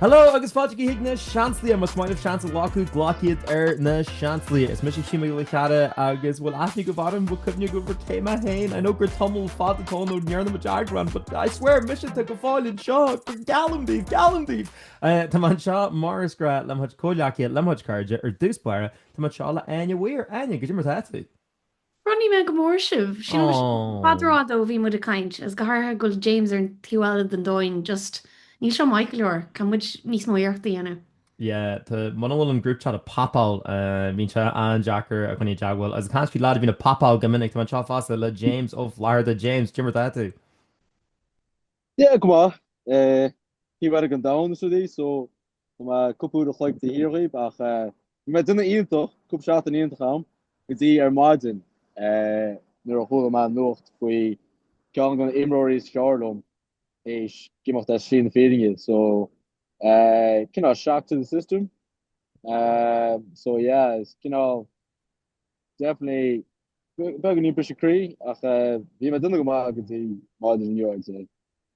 Hello agus fáilte chuig na Seansálaithe, más mian libh seans a ghlacadh, glac iad ar na Seansálaithe. Is mise Hugh Mac Giolla Cheara agus bhfuil aithne agaibh orm, bhfuil cuimhne agaibh ar cé mé féin, I know gur tamall fada atá ann ó ndearna muid eagrán but I swear mise tá go fóill anseo, geallaim daoibh, geallaim daoibh! Tá mé anseo mar is grá le mo chuid comhghleacaithe, le mo chuid cairde, ar dtús báire tá mé anseo le Áine Weir, Áine, cad é mar atá tú? Chronaigh mé go mór sibh. Aww. Tá sé i bhfad rófhada ó bhí muid ag caint, agus go háirithe go bhfuil James ar an taobh eile den domhain, just níl seo maith go leor, caithfidh muid níos mó iarrachta a dhéanamh. Yeah, tá, muna bhfuil an group chat ag pop-áil, bíonn sé an-deacair coinneáil i dteagmháil, agus ag caint faoi lead a bhíonn ag pop-áil go minic, tá mé anseo fosta le James Ó Flatharta. James, cad é mar atá tú? Yeah, go maith. Taobh eile den domhain is rud é, so Tá mé cúpla uair a chloig taobh thiar dhaoib ach bhí mé ag déanamh iontach, cúpla seachtain iontach a'm, go dtí ar maidin nuair a chuala mé an nuacht faoi ceann de na imreoirí is fearr liom théis imeacht ar shlí na fírinne so cineál shock to the system so yeah is cineál definitely beagáinín briseadh croí ach bhí mé ag déanamh go maith go dtí maidin inniu I'd say.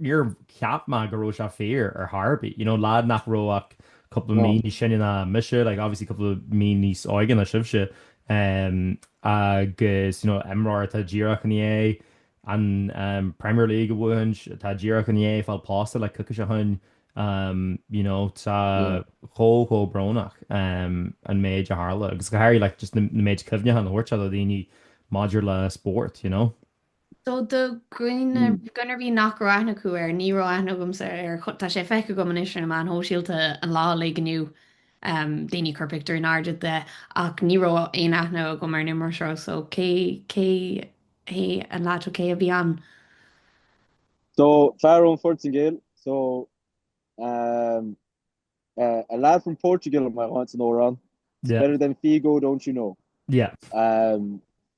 níor cheap mé go raibh sé fíor ar chor ar bith, you know, lead nach raibh ach cúpla mí níos sine ná mise, like, obviously cúpla mí níos óige ná sibhse, em, agus, you know, imreoir atá díreach i ndiaidh an, em, Premier League a bhuachaint, atá díreach i ndiaidh fáil pósta le coicís ó shoin, em, you know, tá chomh, chomh brónach, em, an méid a tharla, agus go háirithe, like, just na, na méid cuimhneacháin a thabhairt sé do dhaoine maidir le spórt, you know. So do dhuine ar bith nach raibh aithne acu air, ní raibh aithne agamsa air, tá sé feicthe agam anois ar na meáin shóisialta an lá uilig inniu, daoine ag cur pictiúr in airde de, ach ní raibh aon aithne agam ar an imreoir seo, so cé, cé hé an lad seo, cé a bhí ann? So fear ón Phortaingéil, so a lad from Portugal, am I right san amhrán? Yeah. Better than Figo, don't you know? Yeah.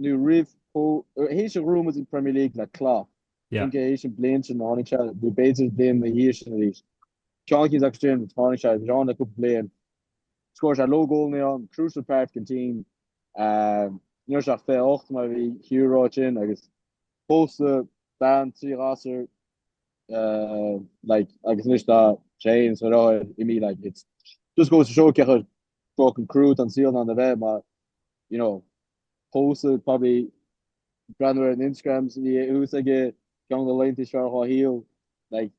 nó roimh chomh, théis gur bhuaigh muid an Premier League le Klopp, Yeah. cinnte théis an bliain sin tháinig sé, nó b'fhéidir an bliain na dhiaidh sin arís. Seán Keys agus Jim, tháinig sé, bhí sé ann le cúpla bliain, scór sé load goalanna, crucial part den team, ní raibh sé ach 28 mar a bhí Hugh ag rá ansin agus pósta, bean, trí ghasur, like agus anois tá sé fhéin is a dheartháir imithe like it's just goes to show cé chomh fucking crua atá an saol in ann a bheith mar, you know, pósadh, probably breathnú ar na Instagrams a bhí thuas aige ceann de na laethanta is fearr dhá shaol, like,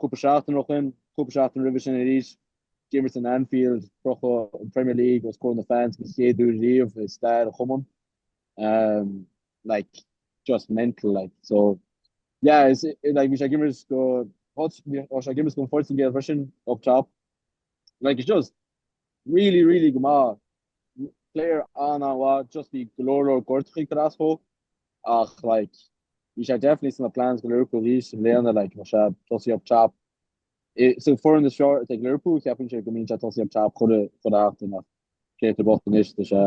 cúpla seachtain ó shin, cúpla seachtain roimhe sin arís, d'imir sé in Anfield, crochadh an Premier League os comhair na fans den chéad uair riamh i stair an chumainn, um, like, just mental, like, so, yeah, is, like, bhí sé ag imirt go, bhí sé ag imirt don Phortaingéil freisin, up top. Like it's just really really go maith player an an mhaith just bhí go leor leor gortuithe aige I suppose ach like bhí sé definitely sna plans go Liverpool thíos i mbliana like bhí sé tosaí up top sa bhfoireann is fearr ag Liverpool cheapfainnse go mbíonn sé tosaí up top chun a chun a theacht in ach cé tá bocht anois tá sé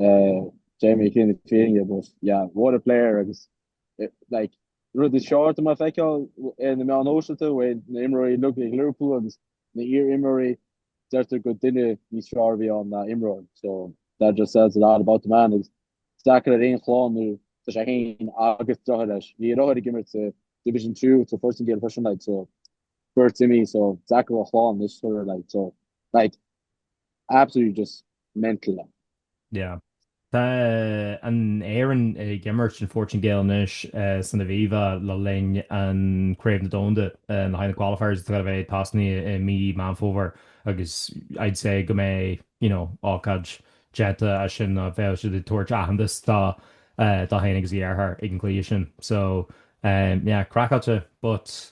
eh, Jamie Keane na Fírinne but yeah what a player agus eh, like rud is fearr atá mé ag feiceáil ar na meáin shóisialta bhfuil na imreoirí uilig ag Liverpool agus Na iar-imreoirí, deirtear gur duine níos fearr a bhí ann ná imreoir, so that just says a lot about the man. Agus is deacair ar aon chlann nó tá sé fhéin agus deartháir leis, bhí a dheartháir ag imirt sa Division Two sa Phortaingéil freisin like so beirt imithe so deacair dá chlann anois sure like so like absolutely just mental ann. Yeah. Tá an Éirinn ag imirt an Phortaingéil anois san Aviva le linn an Chraobh na Domhanda, le haghaidh na qualifiers atá le bheith tosnaí i mí Meán Fómhair agus I'd say go mbeidh, you know, ócáid déanta as sin ná bheadh siad ag tabhairt aitheantas dó dó fhéin agus a dheartháir ag an gcluiche sin. So, yeah, craiceáilte but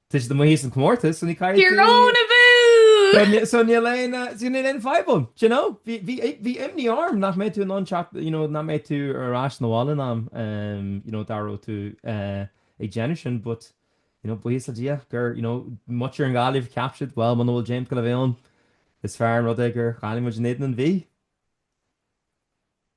Tá siad amuigh as an comórtas so níor chaill tú. Tyrone abú! So níl aon níl aon fadhb ann d'you know. Bhí bhí bhí imní orm nach mbeidh tú in ann teacht d'you know nach mbeidh tú ar ais na bhaile in am em d'you know dá raibh tú eh ag déanamh sin but d'you know buíochas le Dia gur d'you know muintir an Ghaillimh cheap siad bhuel muna bhfuil James ag goil a bheith ann is fearr an rud é gur chaill muid in éadan an Mhí.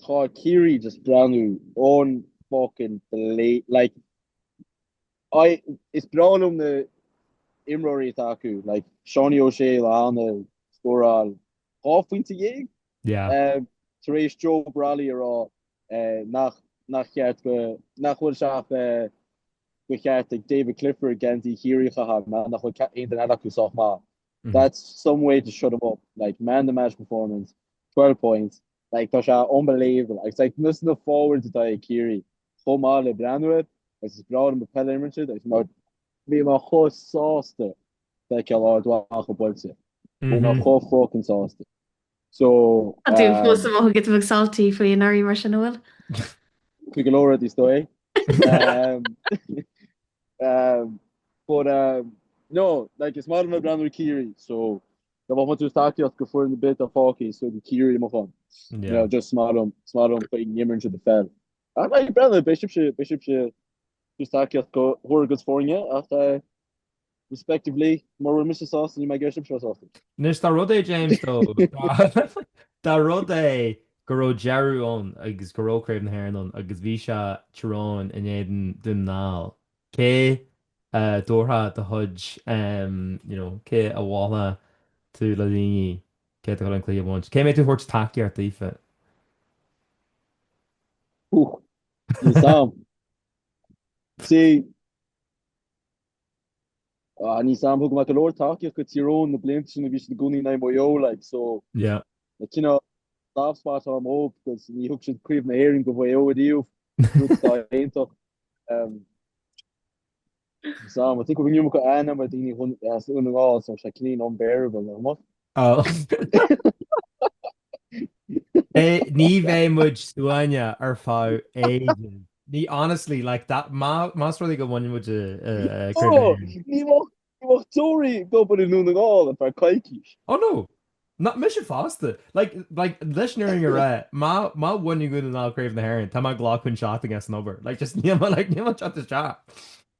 Tá Ciarraí just breathnú un-fucking-playable. Like I is breá liom na imreoirí atá acu. Like Seánie O'Shea le hAnna scóráil 12 phointe Yeah. eh, tar éis Joe Brolly a rá eh, nach nach cheart go, nach bhfuil sé ach eh, de cheart ag David Clifford geansaí Chiarraí a chaitheamh, mar nach bhfuil aon duine eile acu sách maith. That's some way to shut him up, like man of the match performance, 12 points, like tá sé unbelievable agus like nós na forwards atá ag Ciarraí chomh maith le breathnú air agus is breá liom an pheil a imirt air agus mar bhí mé chomh sásta feiceáil Ard Mhacha buailte, bhí mé chomh fucking sásta. Tá tú fós giota beag salty faoi anuraidh mar sin, an bhfuil? Faoi go leor rudaí is dóigh. But um no like is maith liom ag breathnú ar Ciarraí so dá mbeinn ag tabhairt tacaíocht go foireann ar bith atá fágtha so Ciarraí mo cheann. You know just is maith liom is maith liom an chaoi a n-imríonn siad an pheil. Ach like ag breathnú beidh sibhse beidh sibhse ag tabhairt tacaíocht go bhur gcuid foirne ach eh respectively, mura bhfuil mise sásta ní bheidh cead ag sibhse a bheith sásta. Anois dá rud é, James, though, dá rud é go raibh deireadh ann agus go raibh Craobh na hÉireann ann agus bhí sé Tyrone in éadan Dún na nGall, cé a dtabharfá do chuid, you know, cé a mholfá tú le daoine cé atá ag gabháil an cluiche a bhaint? Cé a mbeidh tú ag thabhairt tacaíocht daofa? Ooh, níl a fhios agam. See, Níl a fhios agam thug mé go leor tacaíocht go Tyrone na blianta sin a bhí siad i gcónaí in aghaidh Maigh Eo like so tá kind of soft spot agam dóibh because ní thug siad craobh na hÉireann go Mhaigh Eo ariamh rud atá iontach níl a fhios agam I think go bhfuil an iomarca aithne agam ar dhaoine as Dún na nGall so bheadh sé cineál unbearable nach mbeadh? Ní bheidh muid stuama ar feadh ages. Ní honestly, like that, más rud é go mbaineann muid ní bheidh deoraí ag obair i nDún na nGall ar feadh coicís. Oh no, ná mise fosta! Like, like leis an fhírinne a rá, má bhaineann Dún na nGall Craobh na hÉireann, tá mé ag glacadh an seachtain as an obair. Like just níl mé, like níl mé ag teacht isteach.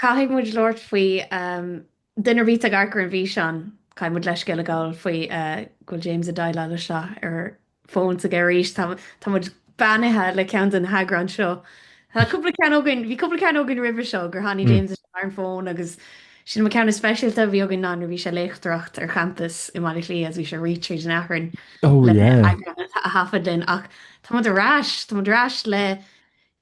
Caithfidh muid labhairt faoi duine ar bith atá ag amharc ar an bhfíseán. Caithfidh muid leithscéal a ghabháil faoi go bhfuil James ag déileáil leis seo ar an fón s'aige arís. Tá tá muid beannaithe le ceann de na heagráin seo. Tá cúpla ceann againn, bhí cúpla ceann againn roimhe seo gur tháinig James isteach ar an fón agus sin an ceann is speisialta a bhí againn ná nuair a bhí sé ag léachtareacht ar champas i mBaile Átha Cliath agus bhí sé ag rith tríd an achrann le heagrán a thaifead linn ach tá muid ar ais, tá muid ar ais le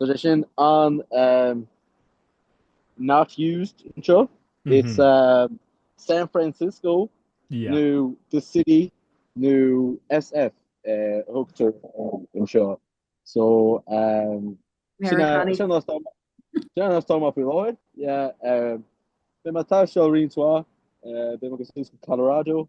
Tá sé sin an um, not used intro. Mm-hmm. It's uh, San Francisco yeah. nu the city nu SF uh, hookter in seo. So um, Tom op Lloyd be ma ta show ri toi be ma Colorado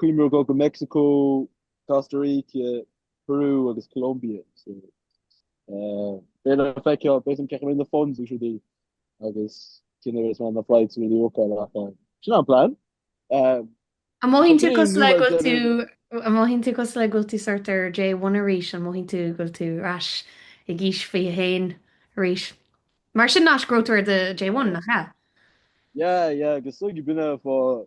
Cuimhneamh ar ghoil go Meicsiceo, Costa Rica, Peru agus Colombia. Beidh le feiceáil cén chaoi a mbeidh na funds is rudaí agus cén chaoi a mbeidh na flights beidh le feiceáil ach sin an plean. An mothaíonn tú cosúil le go bhfuil tú, an mothaíonn tú cosúil le go bhfuil tú sort ar J1 arís? An mothaíonn tú go bhfuil tú ar ais ag aois 21 arís? Mar sin an aois go raibh tú ar do J1, nach ea? Yeah, yeah, go suigh duine fá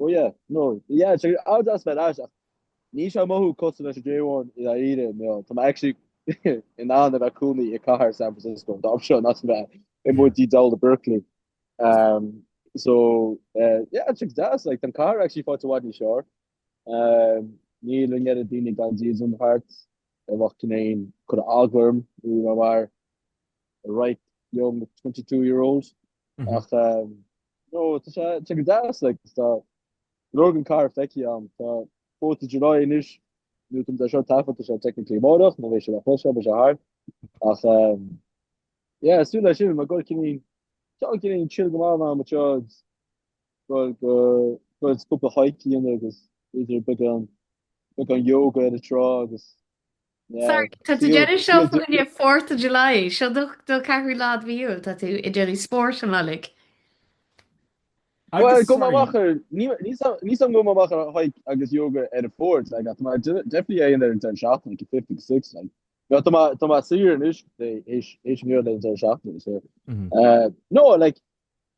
Ó yeah, no, yeah, sure, I would ask about that ach níl sé ag mothú cosúil leis an J1 i ndáiríre, you know, tá mé actually in ann a bheith i mo chónaí i gcathair San Francisco an t-am seo seachas a bheith amuigh i dTelegraph i Berkeley. Um, so, uh, yeah, tá sé go deas, like, tá an cathair actually faighte i bhfad níos fearr. Um, níl an oiread daoine gan dídean thart, a bheadh cineál ag cur eagla orm, you know, mar, bright young 22 year old ach nó tá sé sé go deas like is tá go leor an cathair feicthe agam tá Fourth of July anois nó tá sé thart, tá, tá sé technically amárach nó bheidh sé le cloisteáil bheidh sé thart ach yeah ag súil leis sin mar go cinnte tá cineál chill go maith ná mar seo go go go cúpla hike a dhéanamh agus idir beagán beagán yoga ar an trá agus Sorry, tá tú déanamh seo faoin Fourth of July, seo do ceathrú lá de mhí Iúil, tá tú ag déanamh spóirt an lá uilig. Agus go máthar, níos an go máthar a haig agus yoga ar a fórt le tá defi é in ar an den seach an 56 le. Ja tá tá sí an is éis éis mé den seach. No, like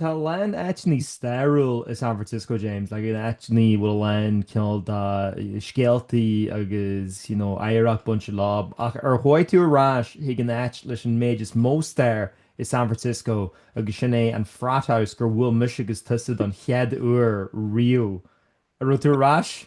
Tá a lán áiteanna stairiúil i San Francisco, James, like áiteanna bhfuil a lán cineál de scéaltaí agus you know oidhreacht bainte leofa, ach ar chuaigh tú ar ais chuig an áit leis an méid is mó staire i San Francisco agus sin é an Frat House gur bhuail mise agus tusa don chead uair riamh. An raibh tú ar ais?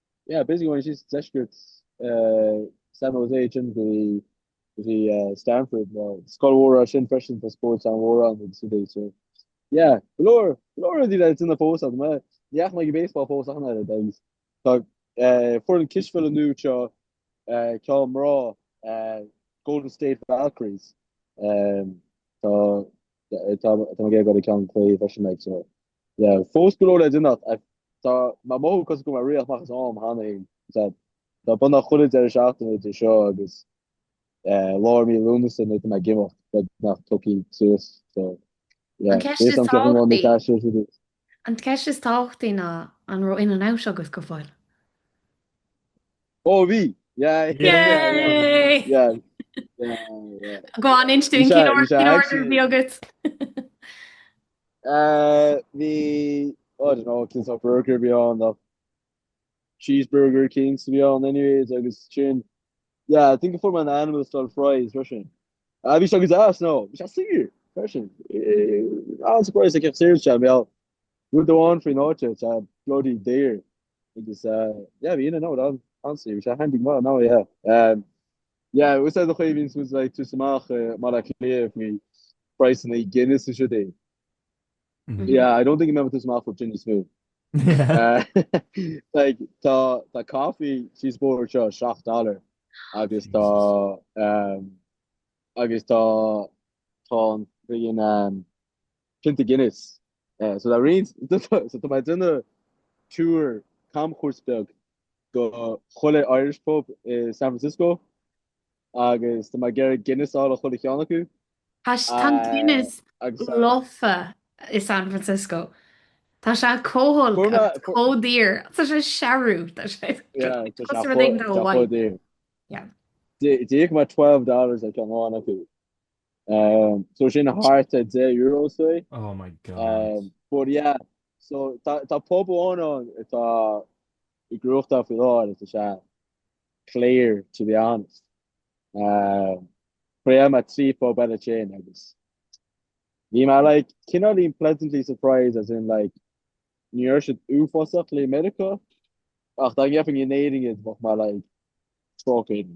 Yeah, basically ó thíos i deisceart San Jose sin go dtí Stanford, tá scoil mhór ansin freisin, tá spóirt an-mhór ann agus rudaí, so yeah, go leor, go leor rudaí le déanamh fós agam, ní dheachaigh mé go baseball fós ach an oiread, agus tá foireann cispheile nua anseo ceann mná, Golden State Valkyries, tá, tá, tá mé ag iarraidh gabháil go ceann cluiche freisin acu, so Yeah, fós go leor le déanamh ach tá mé ag mothú cosúil go bhfuil mé ag rith amach as am cheana féin. Tá tá bunáite chuile deireadh seachtaine idir seo agus eh lár mí Lúnasa nuair a bheidh mé ag imeacht, beagnach tógtha suas. So An yeah, ceist is déarfainn go bhfuil an tábhachtaí, ceist ar siúl. an ceist is tábhachtaí ná an raibh In-N-Out agat go fóill? Oh bhí! Yeah yeah yeah Yay! yeah yeah yeah. Go on, inis dúinn cén ordú a bhí agat. Bhí, I don't know cén sórt burger a bhí ann ach cheeseburger éicint a bhí ann anyways agus sin yeah I think a fuair mé an animal style fries freisin. Ah bhí sé go deas now bhí sé saor freisin bhí mé surprised ag cé chomh saor, sin an rud amháin faoin áit tá bloody daor. agus yeah bhí in and out honestly bhí sé handy go maith now yeah yeah úsáid a chuimhín is muid ag tabhairt amach i mBaile Átha Cliath faoi phraghsanna Guinness is rudaí yeah I don't think go mbeidh mé ag tabhairt amach faoi sin níos mó like tá tá coffee síos an bóthar seo seacht dollar agus tá agus tá tá friggin' pionta Guinness. So tá roinnt, so tá mé ag déanamh tour, camchuairt beag do chuile Irish pub i San Francisco agus tá mé ag iarraidh Guinness a fháil ó chuile cheann acu. Tá sé, tá an Guinness lofa i San Francisco. Tá sé chomh holc, chomh daor. Tá sé searbh. Tá sé, yeah. D'íoc mé twelve dollars ar cheann amháin acu. So sin thart ar €10 say. Oh my God. But yeah, so tá pub amháin ann atá i gcrúachta faoi láthair, sa, sa clear to be honest. Thriail mé trí phub eile ó shin agus bhí mé like cineáilín pleasantly surprised as in like ní raibh siad uafásach le Meiriceá ach dá ngeofainn in Éirinn iad bheadh mé like trócaire.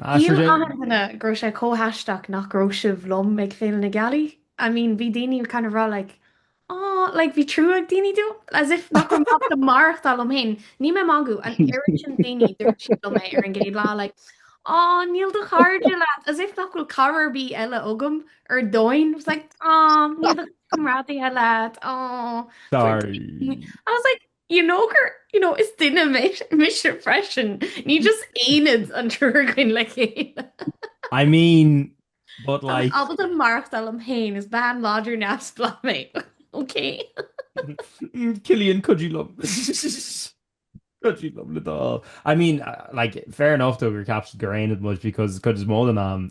Shíl achan duine go raibh sé chomh haisteach nach raibh sibh liom ag Féile na Gealaí. I mean, bhí daoine kind of ag rá like aw like bhí trua ag daoine dom, as if nach raibh mé ábalta maireachtáil liom féin. Níl mé ag magadh, an oiread sin daoine, dúirt siad liom é ar an gcéad lá like aw níl do chairde leat, as if nach bhfuil cara ar bith eile agam ar domhain. I was like aw níl do chomrádaithe leat aw. Sorry. I was like. You know gur, you know, is duine mise freisin, ní just aonad an triúr againn le chéile. I mean, but Tá mé like, ábalta maireachtáil liom féin, is bean láidir neamhspleách mé, okay? Mm, Killian, could you love? could you love it all? I mean, uh, like, fair enough though, go gceaptar gur aonad muid, because cuid is mó den am,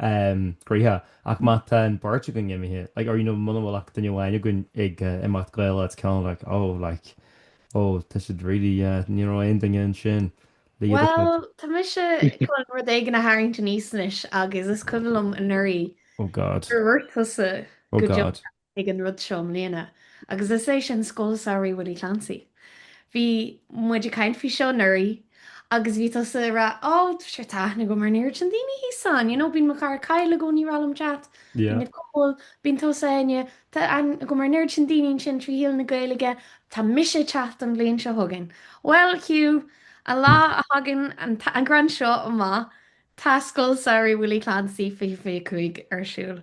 gaoithe, ach má tá an bheirt againn imithe, like, or, you know, muna bhfuil ach duine amháin againn ag imeacht Gaeilge, it's kind of like, oh, like, oh, tá siad really, yeah, ní raibh aon duine ansin léi, a dúirt muid. Bhuel, tá mise chun rud éigin a tharraingt aníos anois, agus is cuimhin liom anuraidh, Oh, God. gur dhúirt tusa, Oh, go deo, God. ag an rud seo i mbliana agus is é sin Scoil Samhraidh Willie Clancy. Bhí muid ag caint faoi seo anuraidh agus bhí tusa ag rá Ó, tá aithne agam ar an oiread sin daoine thíos ann, you know, bíonn mo chara Kyle i gcónaí ag rá liom teacht, bíonn Nicole, bíonn tusa, Áine, tá aithne agam ar an oiread sin daoine ansin trí shaol na Gaeilge, tá mise ag teacht an bhliain seo chugainn. Bhuel, Hugh, an lá a thagann an t-eagrán seo amach, tá Scoil Samhraidh Willie Clancy 2025 ar siúl.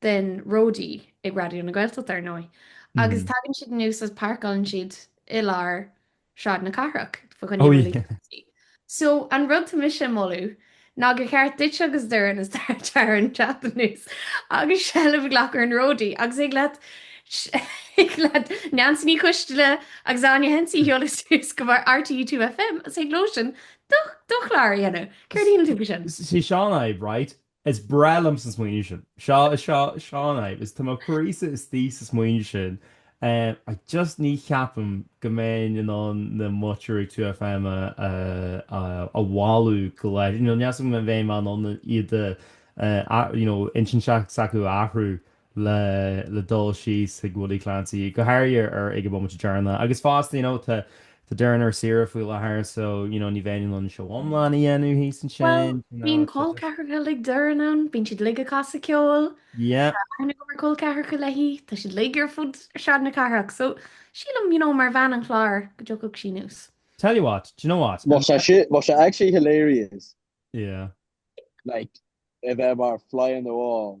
den ródaí ag Raidió na Gaeltachta, ar ndóigh, agus tagann siad anuas agus páirceálann siad i lár Shráid na Cathrach, fa choinne na luascátaí. So, an rud atá mise ag moladh ná gur cheart duit agus Doireann is Taran teacht anuas agus seilbh a ghlacadh ar an ródaí, agus thig leat thig leat Neansaí Ní Choisdealbha agus Áine Hensey a sheoladh suas go barr RTÉ Two FM agus thig leosan do do chlár a dhéanamh. Céard a shíleann tú faoi sin? Sé seo an fhadhb, right? Is breá liom an smaoineamh sin. Seo, seo, seo an fhadhb, is tá mo chroíse istigh sa smaoineamh sin, I just ní cheapaim go mbeinn in ann na muintir 2FM a a mhealladh go leith, you know níl a fhios agam an mbeinn in ann iad a a you know intinn s'acu a athrú. le le dul síos chuig Willie Clancy, go háirithe ar ag an bhomaite deireanach. Agus fosta, you know, tá tá Doireann ar saoire faoi láthair, so, you know, ní bheinn in ann seó iomlán a dhéanamh thíos ansin, you know, so just. Bhuel, bíonn col ceathracha uilig Doireann ann, bíonn siad uilig ag casadh ceoil, Yeah. tá aithne agam ar col ceathracha léi, tá siad uilig ar fud Shráid na Cathrach, so sílim, you know, mar bhean an chláir, go dtiocfadh sí anuas. Tell you what, do you know what? Bheadh sé si-, bheadh sé actually hilarious. Yeah. Like, a bheith mar fly on the wall.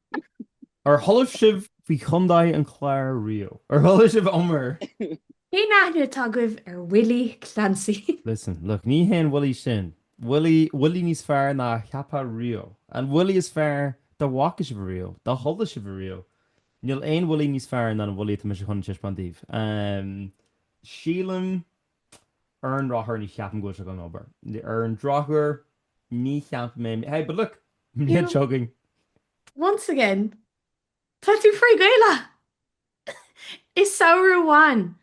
Ar chuala sibh faoi Chondae an Chláir riamh? Ar chuala sibh iomrá? Cén aithne atá agaibh ar Willie Clancy? Listen, look, ní hé an Willie sin. Willie, Willie níos fearr ná a cheapfá riamh. An Willie is fearr dá bhfaca sibh riamh, dá chuala sibh riamh. Níl aon Willie níos fearr ná an Willie atá mise chun teispeáint daoibh. Em. sílim, ar an ndrochuair ní cheapaim go bhfuil sé chun obair. Ar an ndrochuair ní cheapaim é. Hey, but look! bhliain seo chugainn. Once again, tá tú frith-Ghaelach! I samhradh amháin,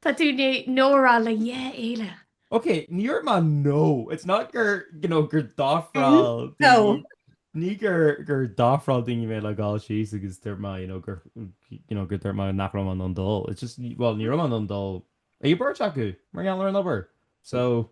tá tú in ann no a rá le dhá fhéile. Ok, níor dhúirt mé no, it's not gur, you know, gur d'ofráil daoine, ní gur, gur d'ofráil daoine mé le dhul síos agus dúirt mé, you know, gur, you know, gur dúirt mé nach raibh mé in ann dul. It's just, well, ní raibh mé in ann dul. Ag an bheirt acu, mar gheall ar an obair. So,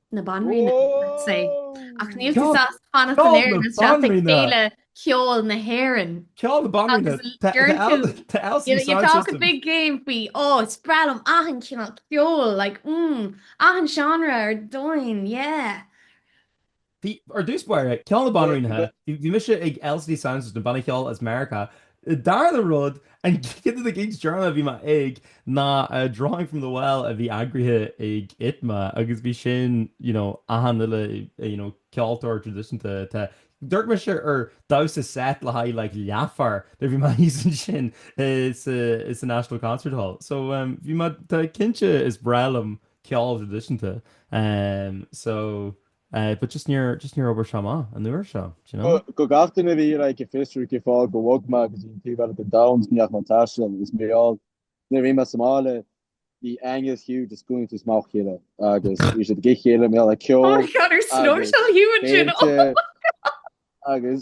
na Banríona, I'd say. Ach níl tú sásta fanacht go léir ina sraith ag Féile Cheoil na hÉireann. Ceol na Banríona, tá LCD Soundsystem. You talk a big game faoi, oh, is breá liom achan cineál ceoil, like, mm, achan seánra ar domhain, yeah. Bhí, ar dtús báire, Ceol na Banríona, bhí mise ag LCD Soundsystem, banna ceoil as Meiriceá. Dara rud. An ceann de na cinn is deireanaí a bhí mé ag ná Drawing from the Well a bhí eagraithe ag ITMA agus bhí sin you know achan uile you know ceoltóir traidisiúnta te. D'amharc mise ar damhsa seit le haghaidh like leathuair nuair bhí mé thíos ansin i sa i sa National Concert Hall. So em bhí mé tá cinnte is breá liom ceol traidisiúnta em so Eh, but just níor, just níor oibrigh sé amach an uair seo, do you know? Go, achan duine a bhí like ag fiosrú cén fáth gur bhog mé go dtí an taobh eile den domhan is gan teach ná taisteal agus mé, well. Nuair a bhí mé sa mbaile bhí Angus Hugh just ag caint is muid le chéile agus bhí siad go dtí a chéile mar gheall le ceol agus péinte agus Snowshell Hugh and June oh my god agus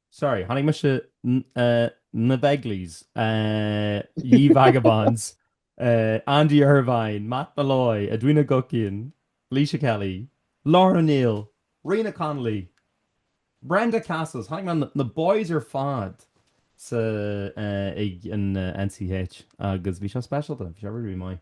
sorry, chonaic mise na Begleys, Ye Vagabonds, Andy Irvine, Matt Molloy, Edwina Guckian, Laoise Kelly, Lisa O'Neill, Ríoghnach Connolly, Brenda Castles, chonaic mé na boys ar fad sa ag an NCH agus bhí sé speisialta, bhí sé really really maith.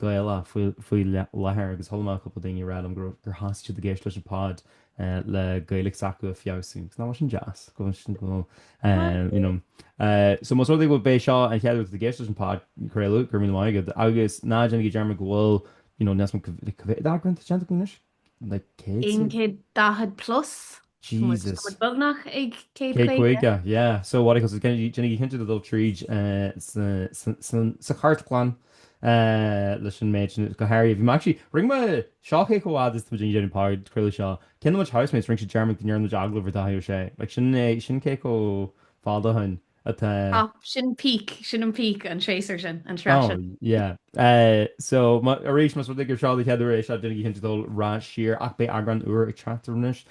Gaelach faoi láthair agus chuala mé cúpla daoine ag rá liom go raibh, gur thosaigh siad ag éisteacht leis an pod le Gaeilge s'acu a feabhsú. Is nach sin deas, go bhfuil sin, go you know. So más rud é gurb é seo an chéad uair duit ag éisteacht leis an podchraoladh, go raibh míle maith agat agus ná déanaigí dearmad go bhfuil you know níos mó ná cibé méid eagrán déanta anois. Like céad Aon san? céad daichead plus. So muid, Jesus. muid beagnach ag céad Céad caoga. caoga, yeah. So what I cos déanaigí, déanaigí cinnte de dul tríd eh sa sa sa sa chartlann eh leis an méid sin go háirithe. Bhí mé actually, rinne mé, seo cé chomh fada is atá muid ag déanamh an podchraoladh seo, ceann de mo housemates, rinne sé dearmad go ndearna muid agallamh ar Dáithí Ó Sé. Like sin é, sin cé chomh fada ó shin. atá. Ah, sin peak, sin an peak, an séasúr sin, an sraith sin. Oh, yeah. So, arís, más rud é gur seo do chéad uair ag éisteacht, déanaigí cinnte dul ar ais siar, ach beidh eagrán úr ag teacht anois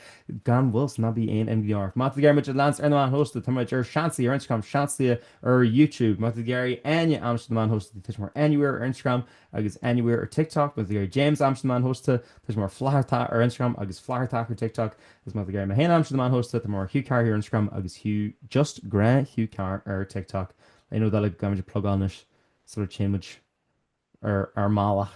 gan mhoill, so ná bíodh aon imní oraibh. Má tá tú ag iarraidh muid a leanstan ar na meáin shóisialta, tá muid ar Seansálaithe ar Instagram, Seansálaithe ar YouTube. Má tá tú ag iarraidh Áine a aimsiú ar na meáin shóisialta, tá sí mar Anywhere ar Instagram, Agus Anywhere ar TikTok, Má tá tú ag iarraidh James a aimsiú ar na meáin shóisialta, tá sé mar Flathartach ar Instagram agus Flatharta ar TikTok. Agus má tá tú ag iarraidh mé féin a aimsiú ar na meáin shóisialta, tá mé mar Hugh Carr ar Instagram agus Hugh, just gnáth Hugh Carr ar TikTok. Aon rud eile go gcaithfidh muid a phlugáil anois sula dtéann muid ar ár mbealach?